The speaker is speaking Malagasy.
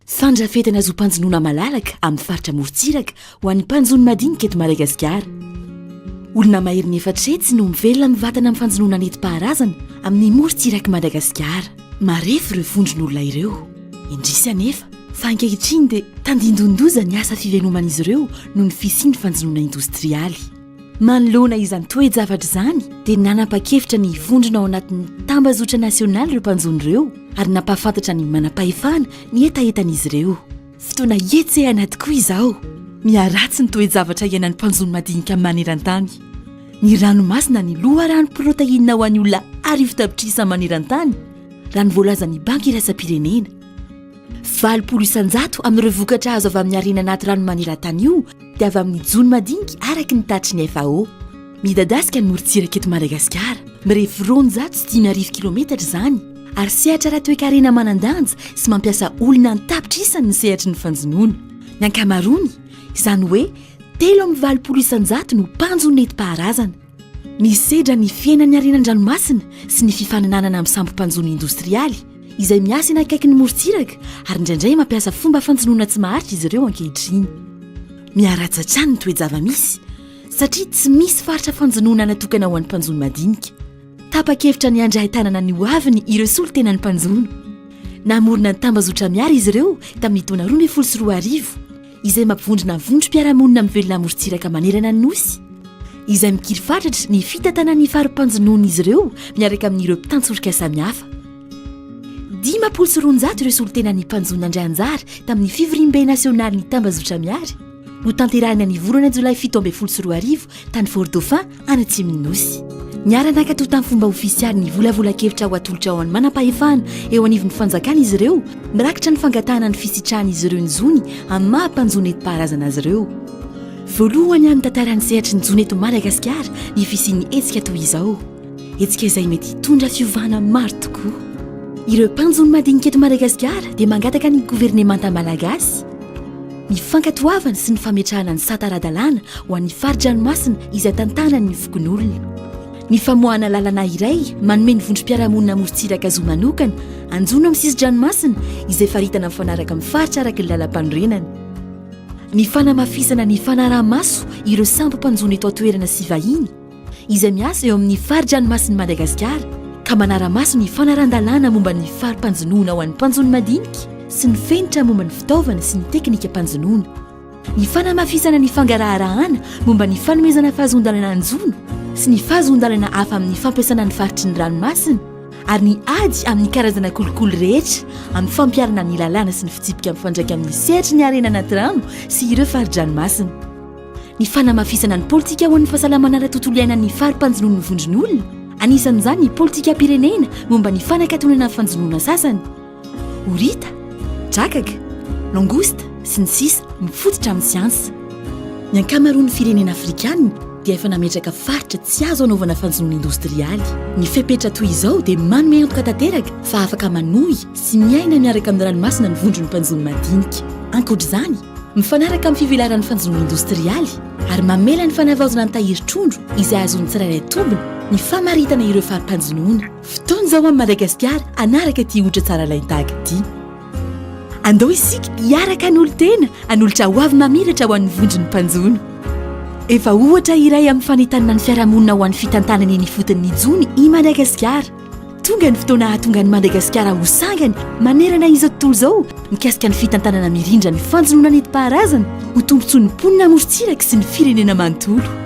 Fandrafetana zom-panjonoana malalaka amin'ny faritra amorontsiraka ho an'ny mpanjono madinika eto Madagasikara. Olona maherin'ny efatra hetsy no mivelona mivatana amin'ny fanjonoana nentim-paharazana amin'ny morontsirak'i Madagasikara. Marefo ireo vondron'olona ireo. Indrisy anefa fa ankehitriny dia tandindonin-doza ny asa fivenoman'izy ireo noho ny fisian'ny fanjonoana indostrialy. Manoloana izany toe-javatra izany dia nanapa-kevitra ny hivondrona ao anatin'ny tambazotra nasionaly ireo mpanjono ireo ary nampahafantatra ny manam-pahefana ny hetahetan'izy ireo. Fotoana hihetsehana tokoa izao. Miharatsy ny toe-javatra iainan'ny mpanjono madinika maneran-tany. Ny ranomasina ny loharano protainina ho an'ny olona arivo tapitrisa maneran-tany, raha ny voalazan'ny Banky Iraisam-pirenena. Valopolo isan-jato amin'ireo vokatra azo avy amin'ny harena anaty rano maneran-tany io dia avy amin'ny jono madinika araka ny tatitry ny FAO. Midadasika ny morontsiraka eto Madagasikara, mirefy roanjato sy dimy arivo kilaometatra izany, ary sehatra ara-toekarena manan-danja sy mampiasa olona an-tapitrisany ny sehatry ny fanjonoana. Ny ankamaroany, izany hoe telo amin'ny valopolo isan-jato no mpanjono nentim-paharazana. Misedra ny fiainan'ny harena an-dranomasina sy ny fifaninanana amin'ny sambo-mpanjono indostrialy, izay miasa eny akaikin'ny morontsiraka ary indraindray mampiasa fomba fanjonoana tsy maharitra izy ireo ankehitriny. Miharatsy hatrany ny toe-java-misy, satria tsy misy faritra fanjonoana natokana ho an'ny mpanjono madinika. Tapa-kevitra ny handray an-tanana ny hoaviny ireo solontenan'ny mpanjono. Namorona ny tambazotra Miara izy ireo tamin'ny taona roa ambin'ny folo sy roa arivo. izay mampivondrona ny vondrom-piarahamonina mivelona amorontsiraka manerana ny Nosy, izay mikiry fatratra ny fitantanana ny fari-panjonoan'izy ireo miaraka amin'ireo mpitantsorika samihafa. Dimampolo sy roanjato ireo solontenan'ny mpanjono nandray anjara tamin'ny fivoriambe nasionalin'ny tambazotra Miary, notanterahina ny volana jolay fito ambin'ny folo sy roa arivo tany Fort-Dauphin, any atsimon'ny nosy niara-nakato tamin'ny fomba ofisialy ny volavolan-kevitra ho atolotra ao an'ny manam-pahefana eo anivon'ny fanjakana izy ireo mirakitra ny fangatahana ny fisitrahan'izy ireo ny zony amin'ny maha mpanjo nentim-paharazana azy ireo voalohany amin'ny tantaran'ny sehatry ny zony eto Madagasikara ny fisian'ny hetsika toy izao hetsika izay mety hitondra fiovana maro tokoa ireo mpanjo ny madinika eto Madagasikara dia mangataka ny governemanta malagasy Ny fankatoavana sy ny fametrahana ny sata ara-dalàna ho an'ny fari-dranomasina izay tantanan'ny fokonolona. Ny famoahana lalana iray manome ny vondrom-piarahamonina amorontsiraka zo manokana hanjono amin'ny sisin-dranomasina izay faritana mifanaraka amin'ny faritra araka ny lalampanorenana. Ny fanamafisana ny fanaraha-maso ireo sambo mpanjono eto an-toerana sy vahiny, izay miasa eo amin'ny fari-dranomasin'i Madagasikara ka manara-maso ny fanarahan-dalàna momba ny fari-panjonoana ho an'ny mpanjono madinika sy ny fenitra momba ny fitaovana sy ny teknikam-panjonoana. Ny fanamafisana ny fangaraharahana momba ny fanomezana fahazoan-dalana hanjono sy ny fahazoan-dalana hafa amin'ny fampiasana ny faritry ny ranomasina ary ny ady amin'ny karazana kolikoly rehetra amin'ny fampiharana ny lalàna sy ny fitsipika mifandraika amin'ny sehatry ny harena anaty rano sy ireo fari-dranomasina. ny fanamafisana ny politika ho an'ny fahasalamana ara-tontolo iainan'ny fari-panjonoan'ny vondron'olona, anisan'izany ny politikam-pirenena momba ny fanakatonana fanjonoana sasany, horita, drakaka, langouste, sy ny sisa, mifototra amin'ny siansa. Ny ankamaroan'ny firenena afrikana dia efa nametraka faritra tsy azo anaovana fanjonoana indostrialy. Ny fepetra toy izao dia manome antoka tanteraka fa afaka manohy sy miaina miaraka amin'ny ranomasina ny vondron'ny mpanjono madinika. Ankoatra izany, Mifanaraka amin'ny fivelaran'ny fanjonoana indostrialy ary mamela ny fanavaozana ny tahiry trondro izay azon'ny tsirairay tombony ny famaritana ireo fari-panjonoana. Fotoana izao amin'i Madagasikara hanaraka ity ohatra tsara lain-tahaka ity. Andao isika hiaraka hanolo-tena hanolotra hoavy mamiratra ho an'ny vondron'ny mpanjono. Efa ohatra iray amin'ny fanentanana ny fiarahamonina ho an'ny fitantanana eny ifotony ny jono i Madagasikara. Tonga ny fotoana hahatonga an'i Madagasikara ho sangany manerana izao tontolo izao mikasika ny fitantanana mirindra ny fanjonoana nentim-paharazana ho tombontsoan'ny mponina amorontsiraka sy ny firenena manontolo.